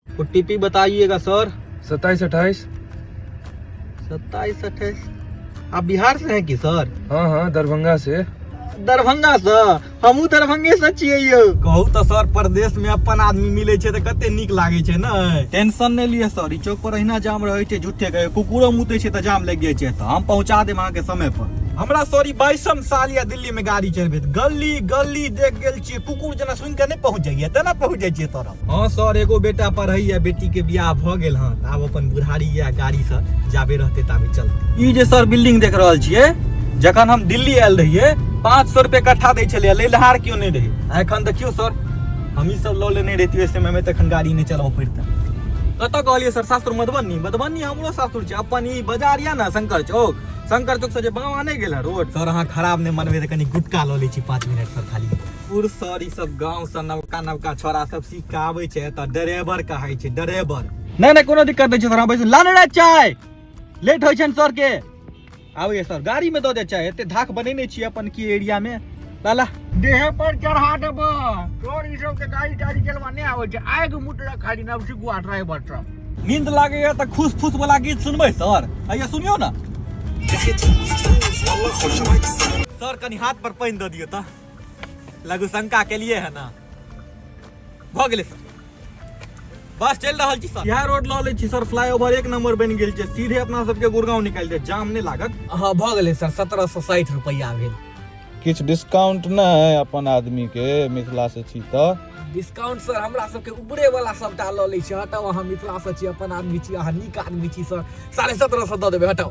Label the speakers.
Speaker 1: ओ T P बताइएगा sir सत्ताईस अट्ठाईस सत्ताईस अट्ठाईस आप बिहार से हैं कि सर हाँ हाँ दरभंगा से दरभंगा से हमहूँ दरभंगे से छियै यौ कहू तऽ सर प्रदेश में अपन आदमी मिले छै तऽ कते नीक लागे छै ने टेंशन नहीं लिए सर ई चौक पर अहिना जाम रहे छै झूठे के कुकुरो मुते छै तऽ जाम लग जाए छै तऽ हम पहुंचा देब अहाँ के समय पर हमरा सॉरी बाईसम साल या दिल्ली में गाड़ी चलबैत गली गली देख गेल छियै कुकुर जेना सुनि कऽ नहि पहुँच जाइए तेना पहुँच जाइ छियै सर हँ सर एगो बेटा पढ़ैए बेटीके बियाह भऽ गेल हँ तऽ आब अपन बुढ़ारी या गाड़ीसँ जाबे रहतै ताबे चलतै ई जे सर बिल्डिंग देख रहल छियै जखन हम दिल्ली आयल रहियै पाँच सए रुपये कट्ठा दै छलै लेलहार केओ नहि रहै आ एखन देखियौ सर हमही सब लऽ लेने रहितियै समयमे तऽ एखन गाड़ी नहि चलाबऽ पड़तै कतऽ कहलियै सर सासुर मधुबनी मधुबनी हमरो सासुर छै अपन ई बाजार यऽ ने शंकर चौक शंकर चौक से जे बामा नहीं गेला रोड सर अहाँ खराब नहीं मनबे तो कनी गुटका लो ली छी पाँच मिनट सर खाली पुर सर ई सब गाँव से नवका नवका छोरा सब सीख के आबे छै तऽ ड्राइवर कहाई छै ड्राइवर नहीं नहीं कोनो दिक्कत नहीं छै सर हम बैसू लाने रह चाय लेट होइ छै सर के आबैए सर गाड़ी में दऽ दे चाय एते धाक बनेने छी अपन की एरिया में लाला देह पर चढ़ा देब तोर ई सब के गाड़ी ताड़ी चलवा नहीं आवे छै आग मुटरा खाली नब से गुआ ड्राइवर सब नींद लागे है तो खुश फुस वाला गीत सुनबे सर आइए सुनियो ना सर कनी हाथ पर पानी दे दियो तो लघु शंका के लिए है ना भऽ गेलै सर बस चल रहा जी सर यह रोड ला ले छी सर फ्लाईओवर एक नंबर बन गेल छै सीधे अपना सबके गुड़गांव निकल जाए जाम नहीं लागत हाँ भ गए सर सत्रह सौ साठ रुपया भेल किछ डिस्काउंट न है अपन आदमी के मिथिला से छी तो डिस्काउंट सर हमरा सबके ऊपरे वाला सबटा ल ले छी हटाओ अहाँ मिथिला से छी अपन आदमी छी अहाँ नीक आदमी छी सर साढ़े सत्रह सौ दऽ देबै हटाओ